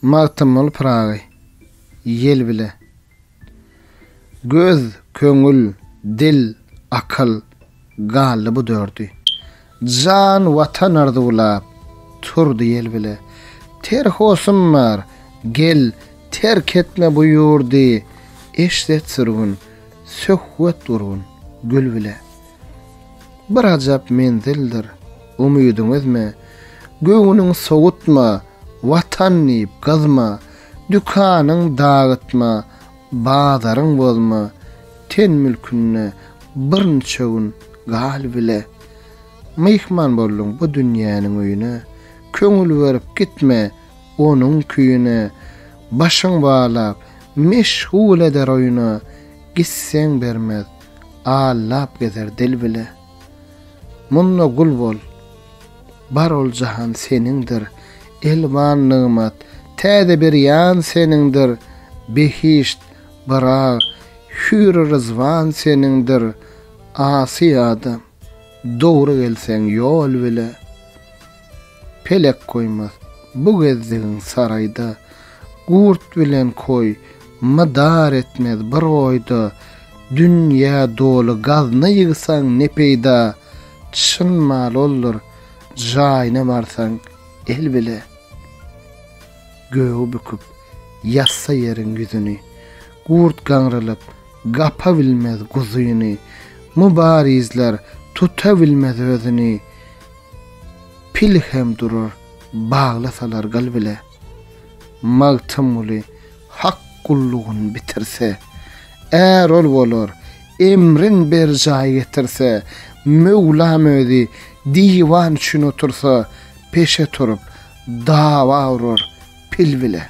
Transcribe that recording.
Magtymguly Pyragy Ýel bile Göz, köňül, dil, akyl, galdy bu dördi. Jan, Watan arzuwlap, turdy ýel bile. Ter hosym bar, gel, terk etme bu ýurdy, Eşret sürgün, söhbet gurgun, gül bile. Bir ajap menzildir, umydyň üzme, Göwnüň sowutma, Watan diýip gyzma, Dükanyň dagytma, bazaryň bozma, Ten mülkünde birnçe gün gal bile. Myhman bolduň bu dünýäniň öýüne, Köňül berip gitme onuň küýüne, Başyň balap, meşgul eder oýuna, Gitseň bermez, Allap gezer dil bile. Munda gul bol. Bar ol jahan seniňdir. Elwan nygmat, täze bir ýan seniňdir. Behişt, Byrag, hüýr-i ryzwan seniňdir. Asy adam. Dogry gelseň ýol bile, pelek goýmaz Bu gezdigiň saraýda, gurt bilen koý Mydar etmez bir oýda, dünýä doly gazna ýygsaň ne peýda Çyn mal oldur, jaýyna barsaň el bile Gögi büküp, ýazsa ýeriň ýüzüni, gurt gaňrylyp, Gapa bilmez guzyny, Mubarizler tuta bilmez özüni, Pil hem durur, baglasalar gyl bile. Magtymguly hak gullugyn bitirse, Är-ol bolar, emrin berjaý getirse, Möwlam özi diwan üçin otursa, Peşe turup, dawa urar pil bile.